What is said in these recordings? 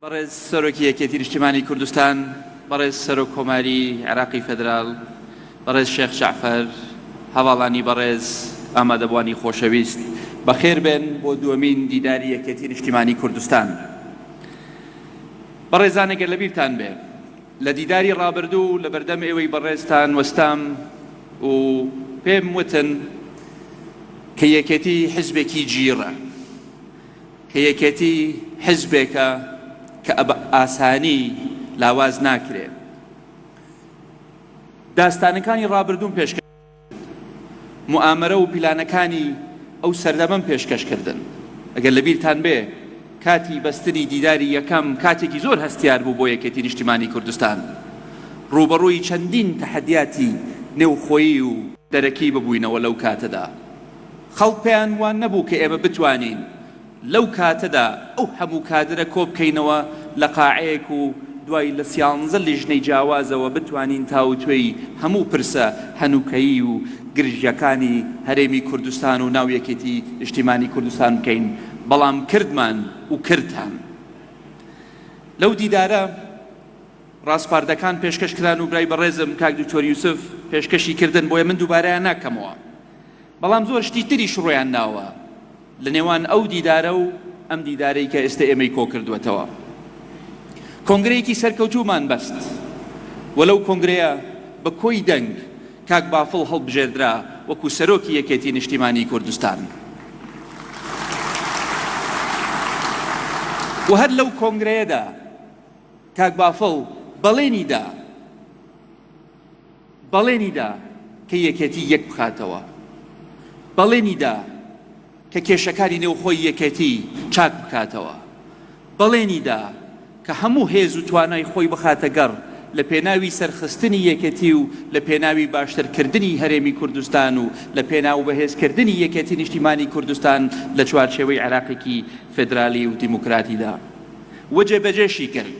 بەڕێز سەرۆکی یەکێتی نیشتیمانی کوردستان، بەڕێز سەرۆک کۆماری عێراقی فێدرال، بەڕێز شێخ جەعفەر، هەڤاڵانی بەڕێز، ئامادەبوانی خۆشەویست، بەخێربێن بۆ دووەمین دیداری یەکێتی نیشتیمانی کوردستان. بەڕێزان ئەگەر لەبیرتان بێ لە دیداری ڕابردوو لە بەردەم ئێوەی بەڕێزتان وەستام و پێم وتن کە یەکێتی حزبێکی جیڕە، کە یەکێتی حزبێکە کە بە ئاسانی لاواز ناکرێت. داستانەکانی ڕابردووم پێشکەش کردن. موئامەرە و پیلانەکانی ئەو سەردەمەم پێشکەش کردن. ئەگەر لە بیرتان بێ کاتی بەستنی دیداری یەکەم کاتێکی زۆر هەستیار بوو بۆ یەکێتی نیشتیمانی کوردستان. ڕووبەڕووی چەندین تەحەدیاتی نێوخۆیی و دەرەکی ببووینەوە لەو کاتەدا. خەڵک پێیان وا نەبوو کە ئێمە بتوانین لەو کاتەدا ئەو هەموو کادرە کۆبکەینەوە لە قاعەیەک و دوای لە سیانزە لیژنەی جیاوازەوە بتوانین تاوتوێی هەموو پرسە هەنووکەیی و گرژیەکانی هەرێمی کوردستان و ناو یەکێتی نیشتیمانی کوردستان بکەین بەڵام کردمان و کردان لەو دیدارە ڕاسپاردەکان پێشکەش کران و برای بەڕێزم کاک دکتۆر یوسف پێشکەشی کردن بۆیە من دووبارەیان ناکەمەوە. بەڵام زۆر شتی تریش ڕوویان ناوە لە نێوان ئەو دیدارە و ئەم دیدارەی کە ئێستە ئێمەی کۆکردووەتەوە کۆنگرەیەکی سەرکەوتوومان بەست و لەو کۆنگرەیە بە کۆی دەنگ کاک بافڵ هەڵبژێردرا وەکو سەرۆکی یەکێتی نیشتیمانی کوردستان و هەر لەو کۆنگرەیەدا کاک بافڵ بەڵێنی دا بەڵێنی دا کە یەکێتی یەک بخاتەوە، بەڵێنی دا کە کێشەکانی نێوخۆی یەکێتی چاک بکاتەوە، بەڵێنی دا کە هەموو هێز و توانای خۆی بخاتە گەڕ لە پێناوی سەرخستنی یەکێتی و لە پێناوی باشتر کردنی هەرێمی کوردستان و لە پێناو بەهێز کردنی یەکێتی نیشتیمانی کوردستان لە چوارچێوەی عێراقێکی فێدرالی و دیموکراتی دا و جێبەجێشی کرد.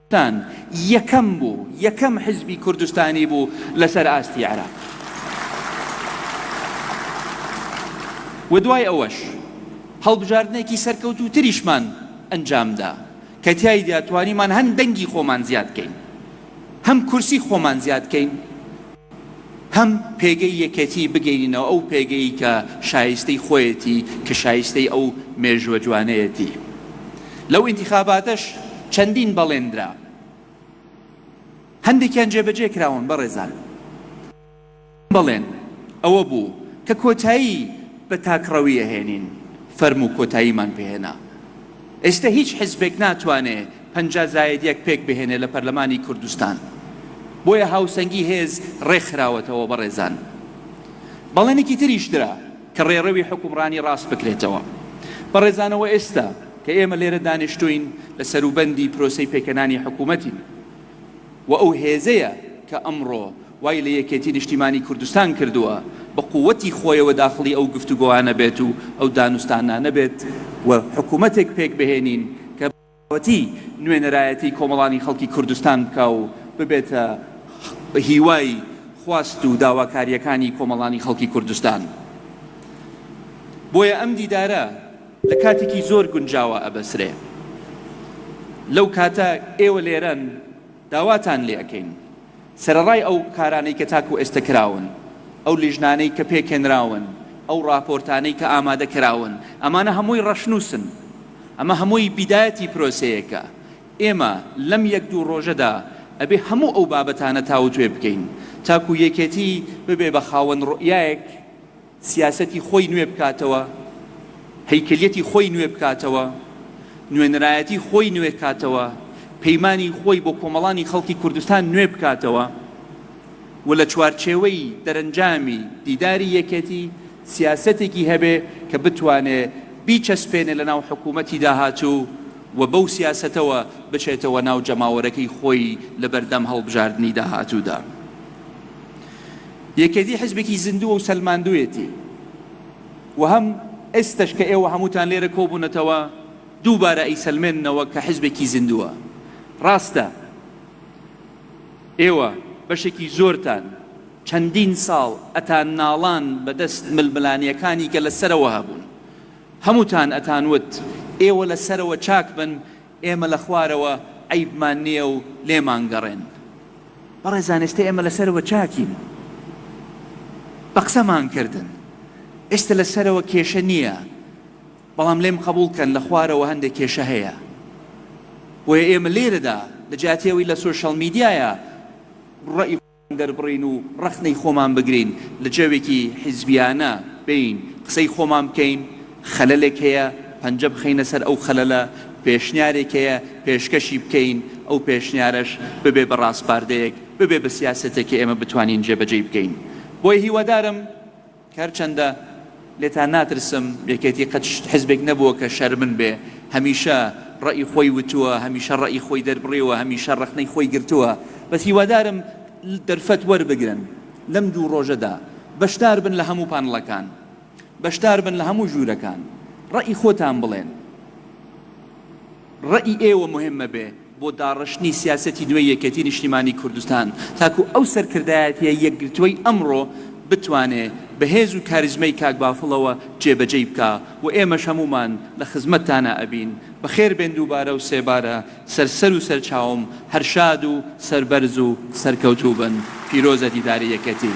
کوردستان یەکەم بوو، یەکەم حزبی کوردستانی بوو لەسەر ئاستی عێراق و دوای ئەوەش هەڵبژاردنێکی سەرکەوتووتریشمان ئەنجامدا کە تیایدا توانیمان هەم دەنگی خۆمان زیاد کەین، هەم کورسی خۆمان زیاد کەین. هەم پێگەی یەکێتیی بگەینینەوە ئەو پێگەی کە شایستەی خۆیەتی، کە شایستەی ئەو مێژووە جوانەیەتی. لەو ئینتیخاباتەش چەندین بەڵێن درا. هەندێکیان جێبەجێ کراون بەڕێزان. یەکەم بەڵێن ئەوە بوو کە کۆتایی بە تاکڕەوی ئەهێنین. فەرموو کۆتاییمان پێهێنا. ئێستە هیچ حزبێک ناتوانێ پەنجا زایەد یەک پێک بهێنێ لە پەرلەمانی کوردستان بۆیە هاوسەنگی هێز ڕێکخراوەتەوە بەڕێزان بەڵێنێکی تریش درا کە ڕێڕەوی حکومڕانی ڕاست بکرێتەوە بەڕێزانەوە ئێستا کە ئێمە لێرە دانیشتوین لە سەروبەندی پرۆسەی پێکهێنانی حکومەتین و ئەو هێزەیە کە ئەمڕۆ وای لە یەکێتی نیشتیمانی کوردستان کردووە بە قووتی خۆیەوە داخڵی ئەو گفتوگۆانە بێت و ئەو دانوستانانە بێت و حکوومەتێک پێک بهێنین کە بە تەواوەتی نوێنەرایەتی کۆمەڵانی خەڵکی کوردستان بکا و ببێتە هیوای خواست و داواکارییەکانی کۆمەڵانی خەڵکی کوردستان. بۆیە ئەم دیدارە. لە کاتێکی زۆر گونجاوە ئەبەسرێ لەو کاتە ئێوە لێرەن داواتان لێ ئەکەین سەرەڕای ئەو کارانەی کە تاکو ئێستە کراون ئەو لیژنانەی کە پێکهێنراون ئەو ڕاپۆرتانەی کە ئامادە کراون ئەمانە هەمووی ڕەشنووسن ئەمە هەمووی بیدایەتی پرۆسەیەکە ئێمە لەم یەک دوو ڕۆژەدا ئەبێ هەموو ئەو بابەتانە تاوتوێ بکەین تاکو یەکێتی ببێ بە خاوەن ڕوئیایەک سیاسەتی خۆی نوێ بکاتەوە، هەیکەلیەتی خۆی نوێ بکاتەوە، نوێنەرایەتی خۆی نوێ کاتەوە، پەیمانی خۆی بۆ کۆمەڵانی خەڵکی کوردستان نوێ بکاتەوە و لە چوارچێوەی دەرەنجامی دیداری یەکێتی سیاسەتێکی هەبێ کە بتوانێ بیچەسپێنێ لە ناو حکوومەتی داهاتوو و بەو سیاسەتەوە بچێتەوە ناو جەماوەرەکەی خۆی لە بەردەم هەڵبژاردنی داهاتوودا. یەکێتی حزبێکی زیندووە و سەلماندوویەتی و هەم ئێستەش کە ئێوە هەمووتان لێرە کۆبوونەتەوە دووبارە ئەیسەلمێننەوە کە حزبێکی زیندووە. ڕاستە ئێوە بەشێکی زۆرتان چەندین ساڵ ئەتانناڵان بە دەست ململانێکانی کە لە سەرەوە هەبوون. هەمووتان ئەتانوت ئێوە لە سەرەوە چاک بن ئێمە لە خوارەوە عەیبمان نییە و لێمانگەڕێن. بەڕێزان ئێستە ئێمە لە سەرەوە چاکین بە قسەمان کردن، ئێستە لە سەرەوە کێشە نییە، بەڵام لێم قەبووڵ بکەن لە خوارەوە هەندێک کێشە هەیە. بۆیە ئێمە لێرەدا لە جیاتی ئەوەی لە سۆشیاڵ میدیایا ڕەئی. دەربڕین و ڕەخنەی خۆمان بگرین، لە جەوێکی حیزبیانە بین، قسەی خۆمان بکەین، خەلەلێک هەیە پەنجە بخەینە سەر ئەو خەلەلە، پێشنیارێک هەیە پێشکەشی بکەین، ئەو پێشنیارەش ببێ بە ڕاسپاردەیەک، ببێ بە سیاسەتێک کە ئێمە بتوانین جێبەجێی بکەین. بۆیە هیوادارم. کە هەرچەندە لێتان ناترسم، یەکێتی قەت حزبێک نەبووە کە شەرمن بێ، هەمیشە ڕەئی خۆی وتووە، هەمیشە ڕەئی خۆی دەربڕیوە، هەمیشە ڕەخنەی خۆی گرتووە، بەس هیوادارم دەرفەت وەربگرن لەم دوو ڕۆژەدا بەشدار بن لە هەموو پانڵەکان، بەشدار بن لە هەموو ژوورەکان، ڕەئی خۆتان بڵێن، ڕەئی ئێوە موهیمە بێ. بۆ داڕشتنی سیاسەتی نوێی یەکێتی نیشتیمانی کوردستان تاکو ئەو سەرکردایەتیە یەکگرتوەی ئەمڕۆ بتوانێ بە هێز و کاریزمای کاک بافڵەوە جێ بەجێی بکا و ئێمەش هەموومان لە خزمەتتانا ئەبین بەخێر بێن دووبارە و سێبارە سەر سەر و سەرچاوم هەر شاد و سەربەرز و سەرکەوتوو بن پیرۆزە دیداری یەکێتی.